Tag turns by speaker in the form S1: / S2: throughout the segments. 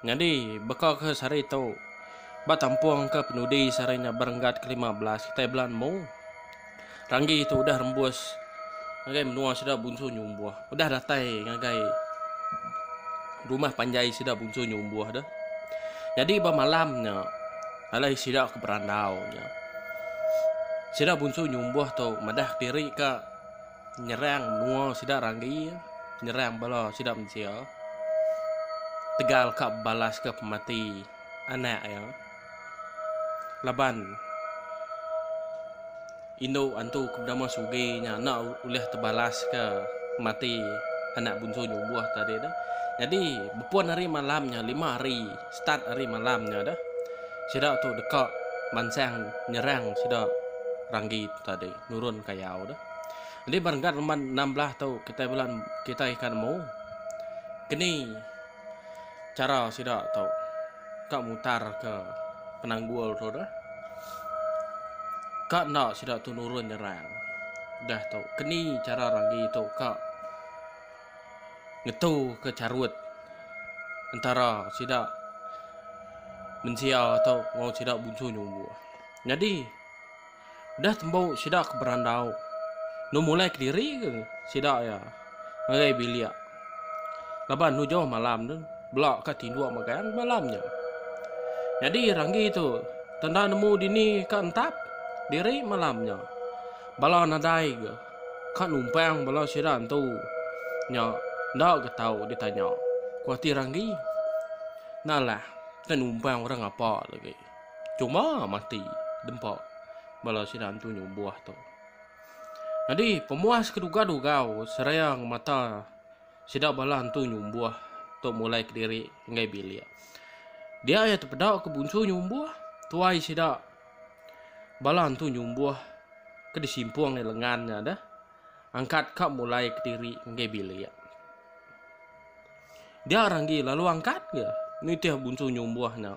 S1: Nyadi, baka ke sehari tu, ba tampung ke penudi sehari nya berenggat kelima belas kitai bela nemu, Ranggi tu udah rembus ngagai menua sida Bunsu Nyumbuh, udah datai ngagai rumah panjai sida Bunsu Nyumbuh tu. Nyadi ba malam nya, alai sida ke berandau nya, sida Bunsu Nyumbuh tu madah diri ka. Nyerang menua sida ranggi, nyerang bala sida mensia. Tegal ka bebalaska pemati anak iya. Laban indu antu ke benama Sugi nya enda ulih tebalaska pemati anak bunsu nyumbuh tadi tu. Jadi bepun hari malam nya lima hari start hari malam nya dah sida tu deka mansang nyerang sida ranggi tu tadi. nurun kayau tu. Enti ba renggat reman enam belah tu kitai bulan kitai ikan mu keni cara sida tu ka mutar ke penanggul tu dah. Ka enda sida tu nurun nyerang. Dah tu keni cara ragi tu ka ngetu ke carut antara sida mensia tu enggau sida bunsu nyumbuh. Nyadi Udah tembu sida ke berandau. Enu mulai kediri ke sida iya ngagai bilik. Laban enu jauh malam tu bela ka tinduk megang malam nya. Nyadi Ranggi tu tang enda nemu dini ka entap diri malam nya. Bala nadai ke ka numpang bala sida entu nya enda ke tau ditanya. Ku ati Ranggi, Nalah ke numpang orang apa lagi. Cuma mati dempa bala sida antu nyubuh tu. Nyadi pemuas ke dugau-dugau serang mata sida bala antu nyubuh tu mulai kediri enggai bilik. Dia iya tepeda ke bunsu nyubuh, tuai sida bala antu nyubuh ke disimpung iya lengan nya deh angkat ka mulai kediri enggai bilik. Dia ranggi lalu angkat ke nitih bunsu nyubuh nya.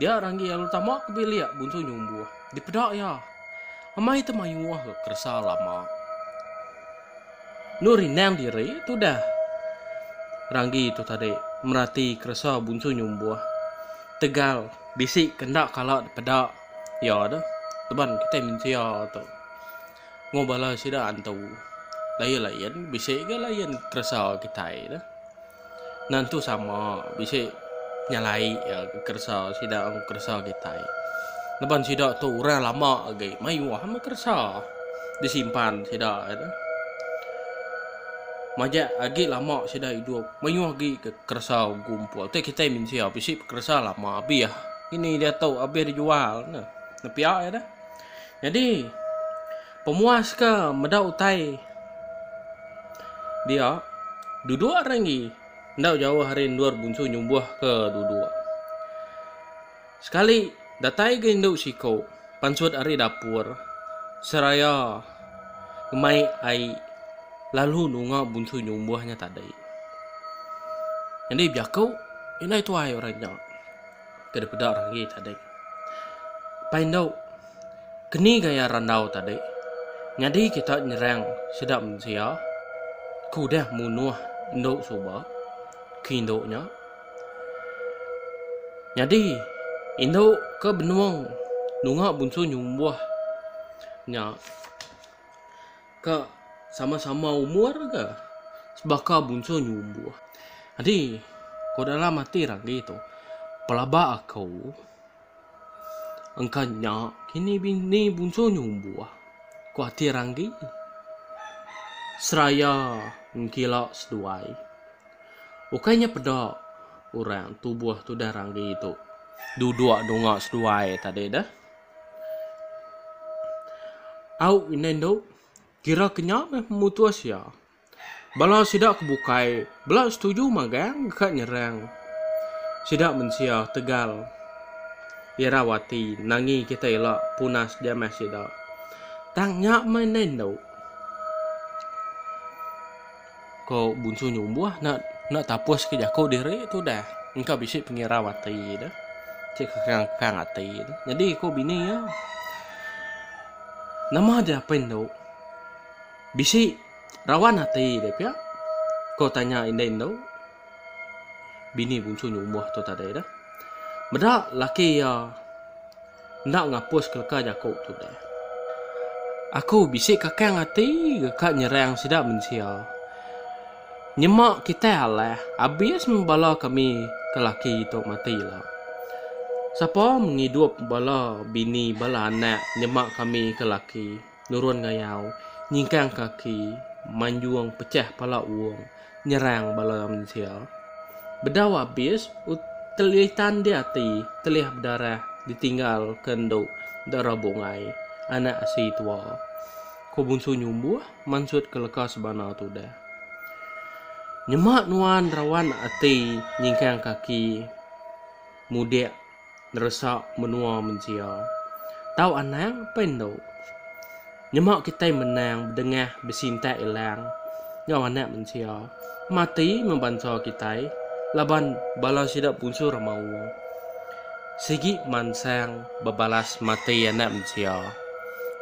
S1: Dia ranggi lalu tama ke bilik bunsu nyumbuh. Dipeda iya. Amai te mayuh ke keresa lama. Enu rindang diri tudah ranggi tu tadi merati keresa bunsu nyumbuh. Tegal bisi ke enda kala dipeda iya tu laban kitai mensia tu enggau bala sida antu lain-lain bisi ga lain keresa kitai tu. Nentu sama, bisi nyalai iya ke keresa sida enggau keresa kitai. Laban sida tu orang lama agi, mayuh ama keresa disimpan sida iya tu. Majak agi lama sida idup, mayuh agi ke keresa bekumpul. Tei kitai mensia bisi keresa lama abih ngini diatu abih dijual ne. Nepia iya tu. Nyadi. Pemuas ke meda utai dia, duduk ari enggi enda jauh ari endur bunsu nyubuh ke duduk. Sekali datai ga indu siko pansut ari dapur seraya ngemai ai lalu nunga bunsu nyubuh nya tadi. Nyadi bejaku indai tuai orang nya ke dipeda orang enggi tadi. Pai indu. Keni gaya randau tadi nyadi kita nyerang sida mensia ke udah munuh endu suba ke indu nya. Nyadi indu ke benung nunga bunsu nyumbuh nya ke sama-sama umur ke sebaka bunsu nyumbuh. Jadi ko dalam ati randi tu pelaba aku. Engka nya, kini bini bunso nyumbuh, ku ati Ranggi seraya ngkila seduai. Ukai nya peda orang tubuh tudah Ranggi tu duduk dunga seduai tadi deh. Au indai endu, kira ke nya meh mutus iya. Bala sida ke bukai bela setuju magang deka nyerang sida mensia Tegal irau ati nangi kitai ila punas jamah sida. Tang nya meh endai endu. Ko Bunsu Nyumbuh enda enda tapus ke jaku diri tu dah. Engka bisi pengirau ati deh. Ti kekang-kekang ati deh. Nyadi ko bini iya nama dia pen endu. Bisi rawan ati deh pia? ko tanya indai endu. Bini bunsu nya umuh tu tadi dah. Meda laki iya enda ngapus ke leka jaku tu deh. Aku bisi kakang ati deka nyerang sida mensia. Nyema kitai alah abis meh bala kami ke laki tu mati ila. Sapa mengidup bala bini bala anak nyema kami ke laki. nurun ngayau, nyingkang kaki, manjung pechah pala uong, nyerang bala mensia. Bedau abis, Utelitan dia ati, telih bedarah ditinggal ke endu enda rabuk ngai anak asi tua. Ko Bunsu Nyumbuh mansut ke leka sebana tudah. Nyema nuan rawan ati nyingkang kaki mudik. neresa menua mensia. Tau anang pen endo. Nyema kitai menang bedengah besintak ilang enggau anak mensia mati meh bansa kitai laban bala sida punsu remaung. Sigi mansang bebalas mati anak mensia,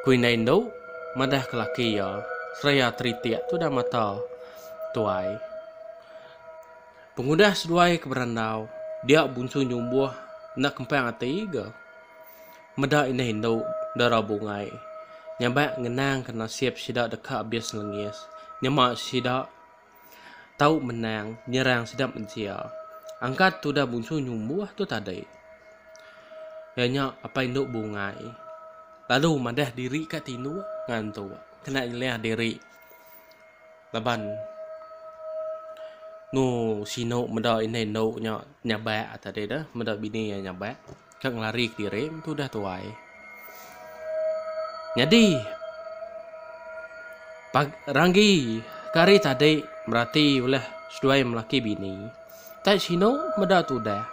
S1: ku indai endo madah ke laki iya seraya teritik tudah mata tuai. Pengudah seduai ke berandau, dia Bunsu Nyumbuh enda kempang ati ga. Meda indah indu dara bungai nyabak ngenangka nasib sida deka abis lengis nyema sida tau menang nyerang sida mensia. Angkat tudah Bunsu Nyumbuh tu tadi, iya nya apai indu bungai lalu madah diri ka tinduk ngantuk kena nyelih diri. Laban nu sinu meda indai endo nya nyabak tadi tu meda bini iya nyabak ka ngelari kediri tu udah tuai. Nyadi pa ranggi ke hari tadi berati ulah seduai melaki bini. Ntai sinu meda tudah.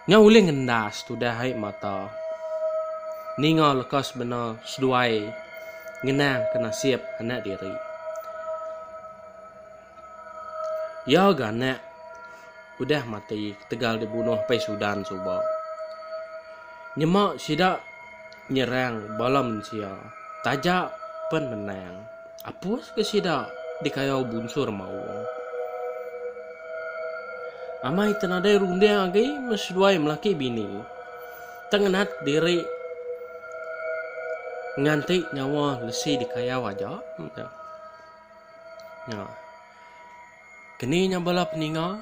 S1: Nya ulih ngendas tudah ai mata ninga leka sebena seduai ngenangka nasib anak diri. Iya ga anak udah mati ketegal dibunuh pai Sudan suba. Nyema sida nyerang bala mensia taja pen menang. Apus ke sida dikayau bunsur maung. Amai te nadai runding agi me seduai melaki bini. Te ngenat diri nganti nyawa lesi dikayau aja. Nya. Keni nya bala peninga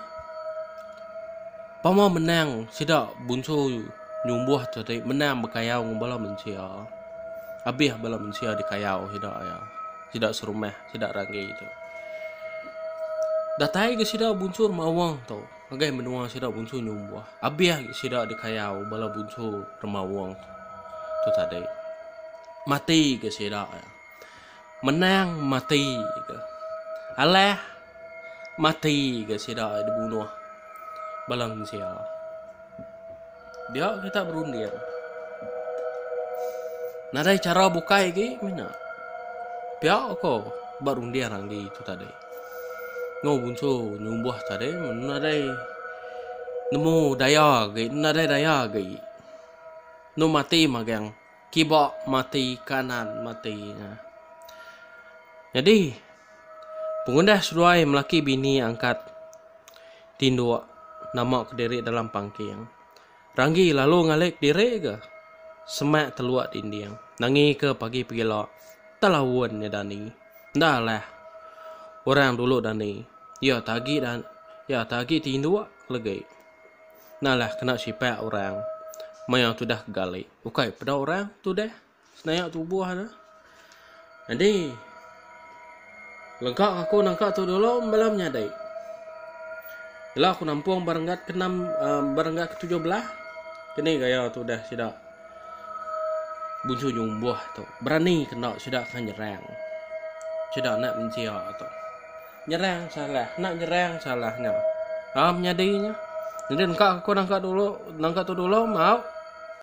S1: pama menang sida bunsu nyumbuh tu ti menang bekayau enggau bala mensia. Abih bala mensia dikayau sida iya. Sida serumah, sida ranggi tu. Datai ga sida bunsu remawa tu ngagai menua sida bunsu nyumbuh. Abih ga sida dikayau bala bunsu remawa tu tadi. Mati ga sida iya. menang mati ke alah mati ke sida dibunuh bala mensia dia kita berunding nadai cara bukai agi mina pia ko ba runding agi tu tadi ngau bunsu nyumbuh tadi mun nadai nemu daya agi nadai daya agi enu mati magang Kiba mati kanan mati nya. Nyadi, pengudah seduai melaki bini angkat tinduk namaka diri dalam pangking. Ranggi lalu ngalik diri ga semak teluk dinding nangika pagi pegila telaun nya dani. Enda alah orang dulu dani iya agi iya agi tinduk legi. Nalah kena sipak orang maya tudah ke gali. Ukai peda orang tudah senayak tubuh ne. Jadi lega aku nangka tu dulu bala menyadi. Ila aku nampung berenggat ke-6 uh, eh, berenggat ke-17 kini gaya tu dah sida buncu nyumbuh tu berani kena sida kan nyerang sida nak menjia tu Nyerang salah enda nyerang salah nya. Am nyadi nya. Nyadi engka aku nangka dulu nangka tu dulu mauk.